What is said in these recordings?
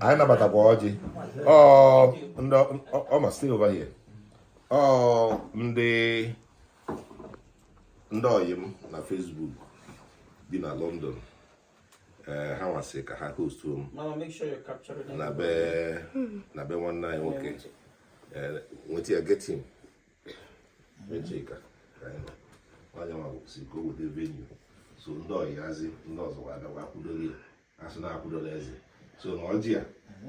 anyị nabatakwa ọjị ọma still over here ndị ndị ọyị m na Facebook bi na London eh, ha nwa sị ka ha hostuo m na be na be nwanne anyị nwoke eh, nweta ya get him Chika onye nwa sị ka o weta venue so ndị ọyị hazi ndị ọzọ ga-abịakwa kwudobe ya a sị na akwudola eze so na ọjị ya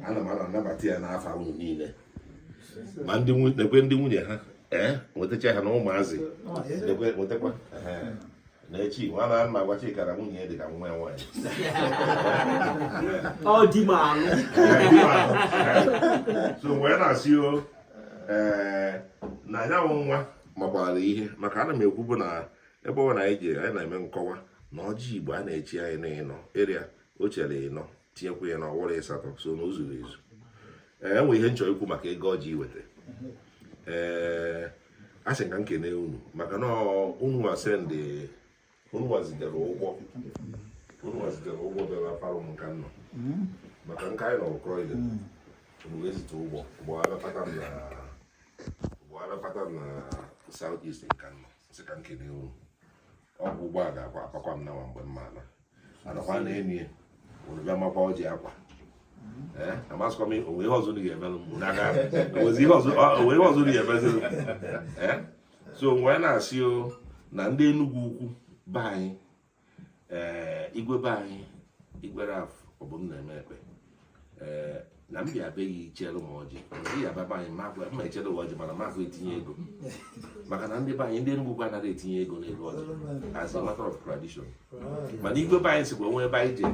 ana m ana anabata ya n'afa unu niile ma ndị nwu- nekwe ndị nwunye ha ee nwetacha ha na ụmụazị nekwe nwetakwa ehe. na echi nwa na nna gwa Chika na nwunye ya dị ka nwa ya nwaanyị ọ di m alụ so wee na-asị o ee na ya wụ nwa makwara ihe maka ana m ekwubu na ebe ọ na anyị ji anyị na-eme nkọwa na ọjị igbo a na-eche ya na ịnọ ịrịa o chere ịnọ tinyekwa ịnọ ọ wụrụ ịsatọ so na o zuru ezu ee o nwe ihe m chọrọ ikwu maka ego ọjị iweta ee a sị ka m kene unu maka na unu nwa sendị unu nwa zigara ụgbọ unu nwa zigara ụgbọ bịara palụ m nka nọ maka nka anyị nọ Croydon unu ezite ụgbọ ụgbọala pata m na ụgbọala pata m na south east nka nọ sị ka m kene unu ọ kwa ụgbọala akwa apakwa m nawa mgbe m ma-ala anakwa na enyi ya unu bịa makwa ọjị a kwa amasịkwa m o nwe ihe ọzọ unu ga-emelụ m n'aka o nwe ihe ọzọ unu ga-emezilụ so mgbe anyị na-asị o na ndị Enugwu-Ukwu be anyị ee igwe be anyị Igwe Ralph Obumnemeh Ekpeh ee na m bịa be gị i chere m ọjị ngị abịa be anyị ma gwa- ma echere m ọjị mana mafụ etinye ego maka na ndị be anyị ndị Enugwu-Ukwu anaghị etinye ego n'ego ọjị as a matter of tradition mana igwe be anyị sịkwa o nwee ebe anyị jee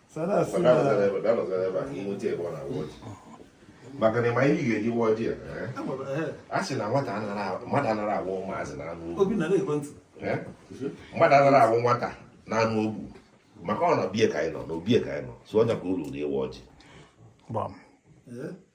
maka na ị ma ihe ga-eji wa ọjị a sị na nwata mmadụ anara awụ nwazị na ana obu mmadụ anara awụ nwata na ana obu maka ọ na obie ka anyị nọ na obie ka anyị nọ so ọ ya ka o ruuru ịwa ọjị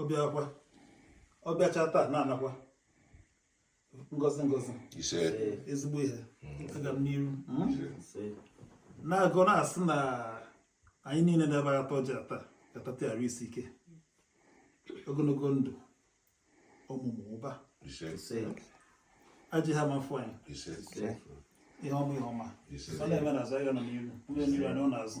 ọ bịakwa ọ bịacha taa na-anakwa ngozi ngozi ezigbo ihe aga m n'iru na-agọ na-asị na anyị niile nọ ebe a ta ọjị a taa ga-atata arụ isi ike ogologo ndụ ọmụmụ ụba ajọ ihe ama-afụ anyị ihe ọma ihe ọma ọ na-eme na azụ anyị nọ n'iru ọ dị n'iru anyị nọ n'azụ